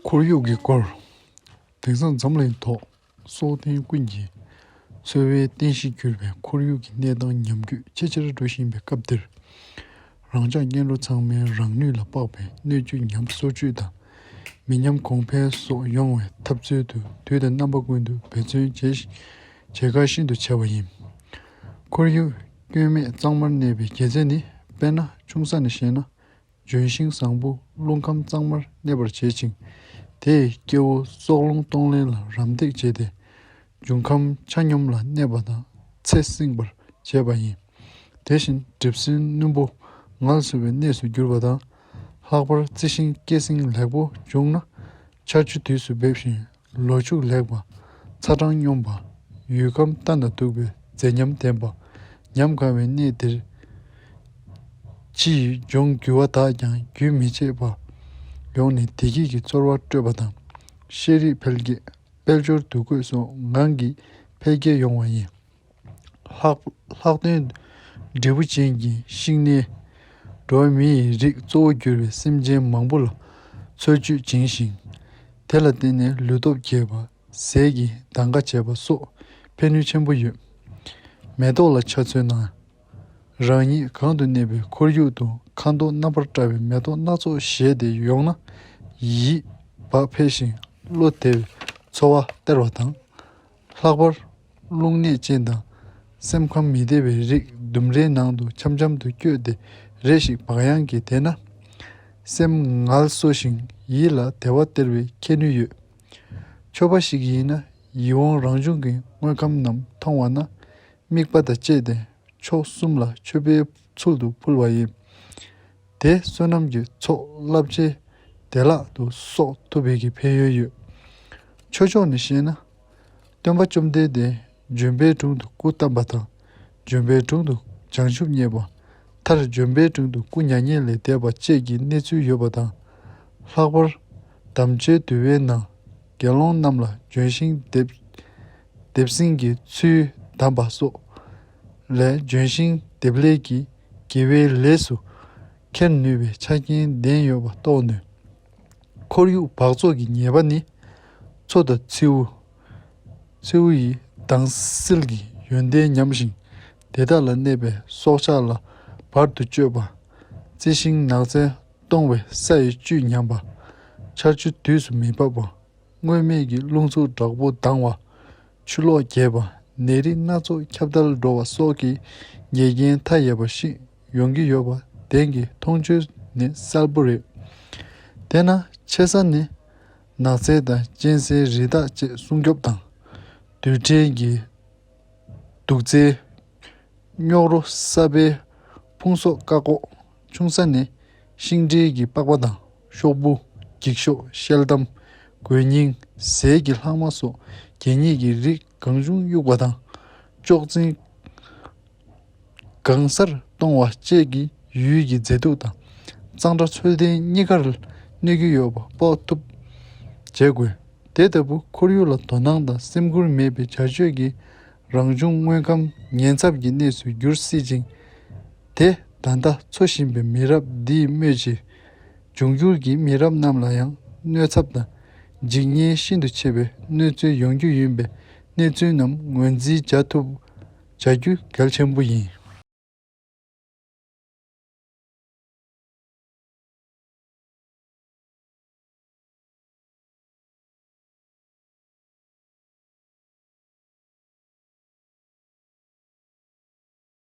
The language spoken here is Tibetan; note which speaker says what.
Speaker 1: ཁོར་ཡུག་གི་སྐོར། དེང་སང་འཛམ་གླིང་ཐོག་སྲོག་ལྡན་ཀུན་གྱི་འཚོ་བའི་རྟེན་གཞི་གྱུར་པའི་ཁོར་ཡུག་གི་གནས་སྟངས་ཉམས་རྒུད་ཆེ་ཆེར་འགྲོ་བཞིན་པའི་སྐབས་འདིར། རང་ཅག་གཉེན་སློབ་ཚང་མའི་རང་ནུས་ལ་དཔག་པའི་སྣོད་བཅུད་ཉམས་གསོ་བཅུད་དང་མི་ཉམས་གོང་འཕེལ་སོགས་ཡོང་བའི་ཐབས་ཚུལ་དུ་དུས་དང་རྣམ་པ་ཀུན་ཏུ་འབད་བརྩོན་བྱེད་ཁ་ཤིན་ཏུ་ཆེ་བ་ཡིན། ཁོར་ཡུག་སྐྱོན་མེད་གཙང་མར་གནས་པའི་དགེ་རྩེ་ནི་དཔེར་ན་ཆུང་ས་ནས་བཤད་ན་ལྗོན་ཤིང་བཟང་པོ་རླུང་ཁམས་གཙང་མར་གནས་པར་བྱེད་ཅིང་དེས་སྐྱེ་བོ་སྲོག་རླུང་གཏོང་ལེན་ལ་རམ་འདེགས་བྱེད་དེ། འབྱུང་ཁམས་ཆ་སྙོམས་ལ་གནས་པ་དང་ཚད་བསྲིང་བར་བྱེད་པ་ཡིན། དེ་བཞིན་གྲིབ་སེལ་སྣུམ་པོ་ངལ་གསོ་བའི་གནས་སུ་གྱུར་པ་དང། ལྷག་པར་རྩི་ཤིང་སྐྱེད་སྲིང་ལེགས་པོ་བྱུང་ན། ཆར་ཆུ་དུས་སུ་འབེབས་ཤིང་ལོ་ཕྱུགས་ལེགས་པ། ཚ་གྲང་སྙོམས་པ། ཡུལ་ཁམས་ལྟ་ན་སྡུག་པའི་མཛེས་ཉམས་ལྡན་པ། ཉམས་དགའ་བའི་གནས་འདིར། ཕྱི་ཡི་ལྗོངས་རྒྱུ་བ་དག་ཀྱང་རྒྱུན་མི་ཆད་པར་ཡོང་ནས་བདེ་སྐྱིད་ཀྱི་ཚོར་བ་སྤྲོད་པ་དང། ཤེས་རིག་འཕེལ་རྒྱས། དཔལ་འབྱོར་འདུ་འགོད་སོགས་ངང་གིས་འཕེལ་རྒྱས་ཡོང་བ་ཡིན། ལྷག་དོན། འབྲས་བུ་ཅན་གྱི་ཤིང་སྣའི་སྒྲོ་བས་མིའི་རིགས་གཙོ་བོར་གྱུར་པའི་སེམས་ཅན་མང་པོ་ལ་འཚོ་བཅུད་སྦྱིན་ཞིང། དེ་ལ་བརྟེན་ནས་ལུས་སྟོབས་རྒྱས་པ། ཟས་ཀྱི་གདམ་ག་བྱེད་པ་སོགས་ཕན་ནུས་ཆེན་པོ་ཡོད། མེ་ཏོག་ལ་ཆ་མཚོན་ན། རང་ཉིད་གང་དུ་གནས་པའི་ཁོར་ཡུག་ཏུ་ཁ་མདོག་རྣམ་པར་བཀྲ་བའི་མེ་ཏོག་སྣ་ཚོགས་བཞད་དེ་ཡོང་ན། ཡིད་བག་འཕེལ་ཞིང་བློ་བདེ་བའི་ཚོར་བ་སྟེར་བ་དང། ལྷག་པར་རླུང་ནད་ཅན་དང་སེམས་ཁམས་མི་བདེ་བའི་རིགས་ལྡུམ་རའི་ནང་དུ་འཆམ་འཆམ་དུ་བསྐྱོད་དེ་རེ་ཞིག་བག་ཡངས་ཀྱིས་བསྡད་ན། སེམས་ངལ་གསོ་ཞིང་ཡིད་ལ་བདེ་བ་སྟེར་བའི་ཁྱད་ནུས་ཡོད། ཆོས་པ་ཞིག་ཡིན་ན་ཡིད་འོང་རང་བྱུང་གི་དངོས་ཁམས་རྣམས་མཐོང་བ་ན། དམིགས་པ་དང་བཅས་ཏེ་མཆོག་གསུམ་ལ་མཆོད་པའི་ཚུལ་དུ་ཕུལ་བ་ཡིན། དེས་བསོད་ནམས་ཀྱི་ཚོགས་རླབས་ཆེན་བདེ་བླག་ཏུ་གསོག་ཐུབ་པའི་ཀྱི་ཕན་ཡོན་ཡོད། ཆོས་ཕྱོགས་ནས་བཤད་ན། སྟོན་པ་བཅོམ་ལྡན་འདས་ལྗོན་པའི་དྲུང་དུ་སྐུ་བལྟམས་པ་དང། ལྗོན་པའི་དྲུང་དུ་བྱང་ཆུབ་བརྙེས་པ། མཐར་ལྗོན་པའི་དྲུང་དུ་སྐུ་མྱ་ངན་ལས་འདས་པ་བཅས་ཀྱི་གནས་ཚུལ་ཡོད་པ་དང། ལྷག་པར་དམ་བཅའི་དུས་བའི་ནང་དགེ་སློང་རྣམས་ལ་ལྗོན་ཤིང་འདེབས། དེབ་སྲིན་གྱི་ཚུལ་གདམས་པ་སོགས་ལས་ལྗོན་ཤིང་དེབ་ལས་ཀྱི་དགེ་བའི་ལས་སུ་འཁྱེར་ནུས་པའི་ཆ་རྐྱེན་ལྡན་ཡོད་པ་རྟོགས་ནུས། ཁོར་ཡུག་འབག་བཙོག་གི་ཉེས་པ་ནི་མཚོ་དང་མཚེའུ། མཚེའུ་ཡི་དྭངས་བསིལ་གྱི་ཡོན་ཏན་ཉམས་ཤིང་དེ་དག་ལ་གནས་པའི་སྲོག་ཆགས་ལ་བར་དུ་གཅོད་པ། རྩི་ཤིང་ནགས་ཚལ་སྟོང་བའི་ས་ཡི་བཅུད་ཉམས་པ། ཆར་ཆུ་དུས་སུ་མི་འབབ་པ། སྔོན་མེད་ཀྱི་རླུང་འཚུབ་དྲག་པོ་ལྡང་བ། ཆུ་ལོག་རྒྱས་པ། ནད་རིགས་སྣ་ཚོགས་ཁྱབ་གདལ་འགྲོ་བ་སོགས་ཀྱི་འགལ་རྐྱེན་མཐའ་ཡས་པ་ཞིག་ཡོང་གི་ཡོད་པ་བདེན་གྱི་མཐོང་ཆོས་ནི་གསལ་པོ་རེད། དེས་ན་ཆེ་ས་ནས་ནགས་ཚལ་དང་གཅན་གཟན་རི་དྭགས་བཅས་སྲུང་སྐྱོབ་དང། རྡུལ་ཕྲན་གྱི་དུག་རྫས། རྙོག་རོ་གསར་པའི་ཕུང་གསོག་བཀག་འགོག། ཆུང་ས་ནས་ཤིང་འབྲས་ཀྱི་པགས་པ་དང་ཤོག་བུ། འགྱིག་ཤོག་ཤེལ་དམ། གོས་རྙིང། ཟས་ཀྱི་ལྷག་མ་སོགས་གད་སྙིགས་ཀྱི་རིགས་གང་བྱུང་དབྱུག་པ་དང། ལྕོག་རྩེན། གང་སར་གཏོང་བ་བཅས་ཀྱིས་ཡུལ་གྱི་མཛེས་སྡུག་དང་གཙང་སྦྲ་ཚོད་ལྡན་གཉིས་ཀར་གནོད་ཀྱི་ཡོད་པ་དཔོག་ཐུབ། བྱེད་དགོས། དེ་ལྟ་བུའི་ཁོར་ཡུག་ལ་དོ་སྣང་དང་སེམས་ཁུར་མེད་པའི་བྱ་སྤྱོད་ཀྱིས་རང་བྱུང་དངོས་ཁམས་ཉེན་ཚབས་ཀྱི་གནས་སུ་འགྱུར་སྲིད་ཅིང། དེ་ད་ལྟ་འཚོ་བཞིན་པའི་མི་རབས་འདིས་སྨོས་ཅི། འབྱུང་འགྱུར་གྱི་མི་རབས་རྣམས་ལ་ཡང་གནོད་ཚབས་དང་འཇིགས་ཉེན་ཤིན་ཏུ་ཆེ་བའི་གནོད་འཚེ་ཡོང་རྒྱུ་ཡིན་པའི་གནས་ཚུལ་རྣམས་ངོས་འཛིན་བྱ་ཐུབ་བྱ་རྒྱུ་གལ་ཆེན་པོ་ཡིན།